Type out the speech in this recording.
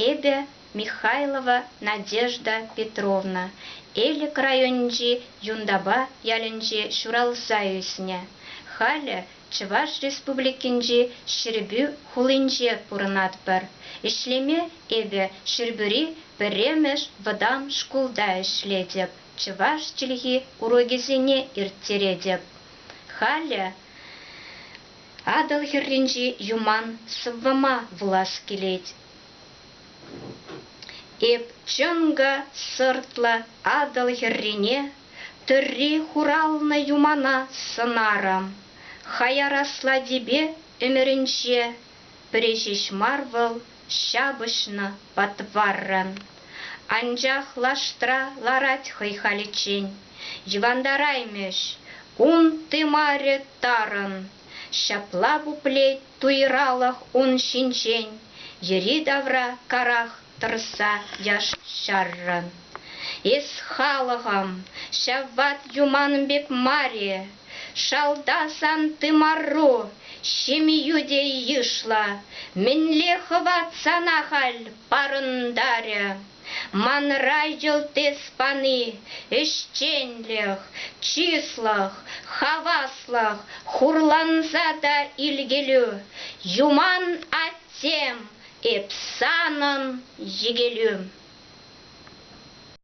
Эпӗ, Михайлова Надежда Петровна, Элӗк районӗнчи Юнтапа ялӗнче ҫуралса ӳснӗ. Халӗ Чӑваш Республикинчи Ҫӗрпӳ хулинче пурӑнатпӑр. Ӗҫлеме эпӗ Ҫӗрпӳри пӗрремӗш вӑтам шкулта ӗҫлетӗп, чӑваш чӗлхи урокӗсене ирттеретӗп. Халӗ Атӑл хӗрринчи юман сӑввӑма вулас килет. Эп чӑнкӑ сӑртлӑ Атӑл хӗррине тырри хуралнӑ юмана сӑнарӑм. Хаяр аслатипе ӗмӗрӗнче пӗри ҫеҫ мар вӑл, ҫапӑҫнӑ патваррӑн. Анчах лаштра ларать хӑй халиччен. Йӑвантараймӗҫ ун тымарӗ тарӑн. Ҫапла пуплет туйралӑх ун ҫинчен, йӗри-тавра карах тӑрса яш-ҫаррӑн. Эс, халӑхӑм, ҫав ват юман пек мар-и? Шалта сан тымару, ҫемью те йышлӑ. Мӗнле хӑват сана халь парӑнтарӗ? Манра йӑлт эс пани ӗҫченлӗх, чыслӑх, хаваслӑх, хурланса та илкелӳ. Юман аттем, эп санӑн йӗкелӳ.